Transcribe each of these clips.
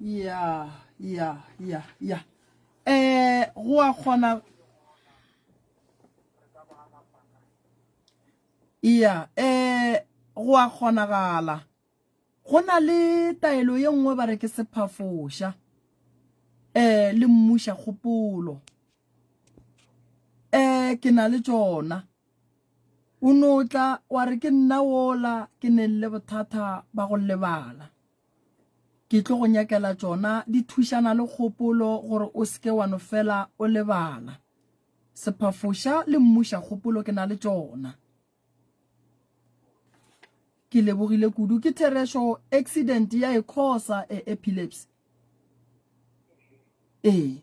ya ya ya ya um go a kgona ya um go a kgonagala go na le taelo ye nngwe ba re ke sephafoša um le mmuša kgopolo um ke na le tšona O no tla wa re ke nna wola ke neng le bothata ba go lebala. Ke tlo go nyakela tšona di thušana le kgopolo gore o seke wa no fela o lebala. Sephafoša le mmuša kgopolo ke na le tšona. Ke lebogile kudu ke therešo accident ya e khosa e epilepsy. Ee,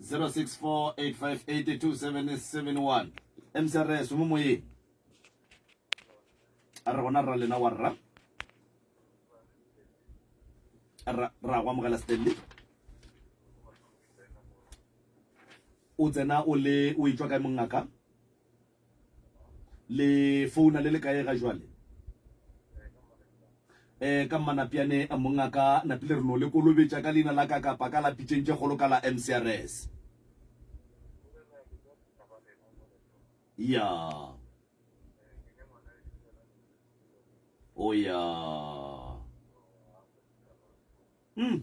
0648582771 msrs mo moyeng a re gona rra lena wa rra ra go amogela stanley o tsena o le o itswa kae mongaka Le founa le le kae ga jwale? Eh, ka mmanapiane mongaka napile re no le kolobetša ka leina la ka kapa ka la pitšeng tše kgolo ka la MCRS. Ya. O oh, ya. Mm.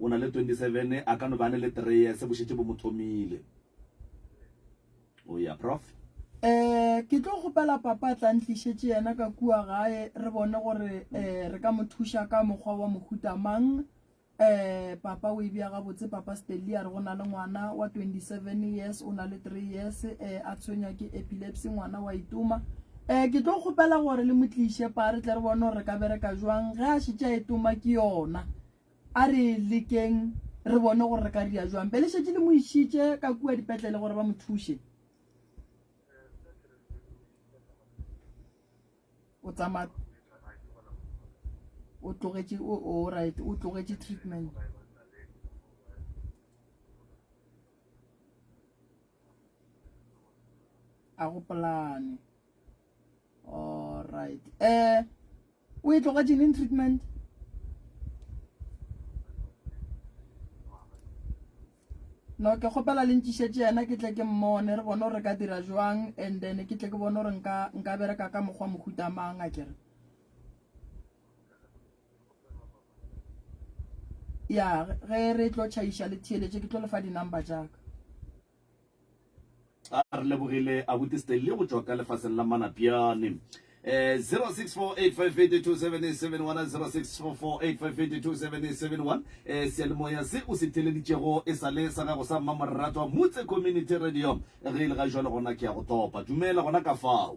O na le 27, a ka no be a ne le 3 years bo šetše bo mo thomile. O ya, Prof. Eh, ke tlo kgopela papa a tla ntlišetše yena ka kua gae re bone gore eh, re ka mo thuša ka mokgwa wa mohuta mang. Eh, papa o e bja gabotse, papa Stelly a re go na le ngwana wa 27 years, o na le 3 years, eh, a tshwenywa ke epilepsy, ngwana wa itoma. um ke tlo kgopela gore le mo tliše pa re tle re bone gore re ka bereka jwang ge a šetša e toma ke yona a re lekeng re bone gore re ka ria jwang be le šetše le mo išitše ka kua dipetlele gore ba mo thuše o tsamaya o tlogetše o o right o tlogetše treatment a go polane alright eh o e tloga genin treatment no ke kgopela le ntšišetse yena ke tle ke mmone re bone gore re ka dira jwang and then ke tle ke bone gore nka bereka ka mokgwa mohutamang a kere ya ge re tlo tšhaiša le theeletše ke tlo lefa di-number jaaka a re lebogile abuti stanley go tšwa ka lefaseng la manapjane um 0648582771 eh, seyalemoya se o se theleditšego e sa le sa gago sa mmamorratwa motse community radio ge e le ga jalo gona ke ya go topa dumela gona ka fao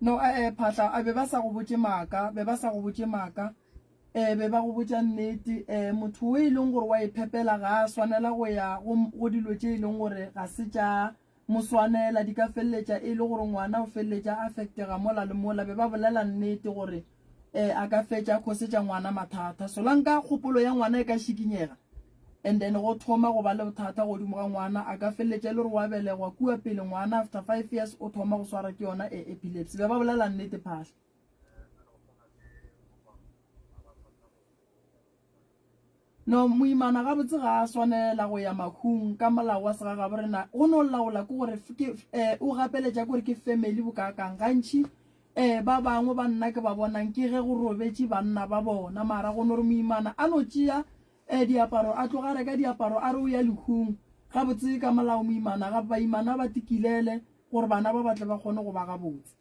No, ee, Phatla, a be ba sa go botše maaka, be ba sa go botše maaka, ee, be ba go botša nnete. Ee, motho o e leng gore wa e phepela ga a swanela go ya go dilo tše e leng gore ga se tša mo swanela, di ka feleletša e le gore ngwana o feleletša a affectega mola le mola. Be ba bolela nnete gore eh a ka fetša a khosetša ngwana mathata solanka kgopolo ya ngwana e ka šikinyega and then go thoma go ba le bothata godimo ga ngwana a ka feleletša e le gore wa belegwa kua pele ngwana after five years o thoma go swara ke yona e epilepsy be ba bolela nnete phahla No, moimana gabotse ga a swanela go ya mahung ka molao wa segagaborena. Go no laola ke gore ke eh, o gapeletša gore ke family bokaakang. Gantši eh, ba bangwe ba nna ke ba bonang ke ge go robetše banna ba bona, mara go no re moimana a no tšea eh, diaparo a tloga reka diaparo a re o ya lehung. Gabotse ka molao moimana ga baimana ba tikilele gore bana ba batle ba kgone go ba gabotse.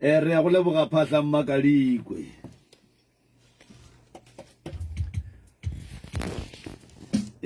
e re ya go leboga phahla mmakadikwe